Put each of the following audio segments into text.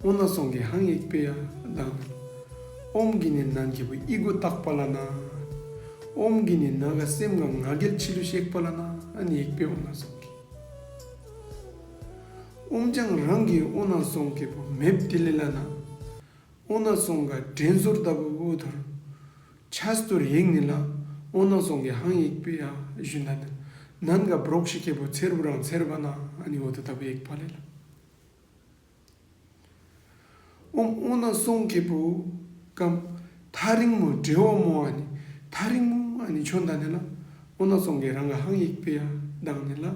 སྔོ་ན་སོང་གི་ཧང་ཡིག་པའི་གདངས། ཨོམ་གྱི་ནི་ནང་གི་བུ་ཨི་གུ་བཏགས་པ་ལ་ན། ཨོམ་གྱི་ནི་ན་ག་སེམས་ངམ་ང་རྒྱལ་འཆི་བསླུ་གཤེགས་པ་ལ་ན་ཨན་ཡིག་པའི་ཨོ་ན་སོང་གི། ཨོམ་ལྗང་རང་གི་ཨོ་ན་སོང་གི་བུ་མེབ་ཏི་ལི་ལ་ན། ཨོ་ན་སོང་ག་དྲན་གཟོར་ལྟ་བུ་ཨུ་དྷུར། བྱ་སྟུར་ཡིག་ནི་ལ་ཨོ་ན་སོང་གི་ཧང་ཡིག་པའི་གཞུ་མདའ་ན། ནན་ག་བརོག་ཤི་ཁེ་བུ་ཚེར་བུ་རང་ཚེར་བ་ན་ཨན་ཡིག་ཨུ་དྷུ་ལྟ་བུ་ཡིག་པ་ལས་ལ། ཨོམ་ཨོ་ན་སོང་གི་བུ་གམ། ཐ་རིང་མོ་འབྲི་ཨོ་མོ་ཨ་ནི་ཐ་རིང་མོ་ཨ་ནི་ཁྱོད་འདའ་ནི་ལ། ཨོ་ན་སོང་གི་རང་ག་ཧང་ཡིག་པི་ཡ་གདངས་ནི་ལ།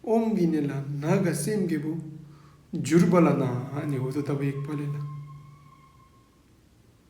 ཨོམ་གི་ནི་ལ་ན་ག་སེམས་གི་བུ། འཇུར་བ་ལ་ན་ཨ་ནི་འོ་དོ་ད་བུ་ཡིག་པ་ལི་ལ།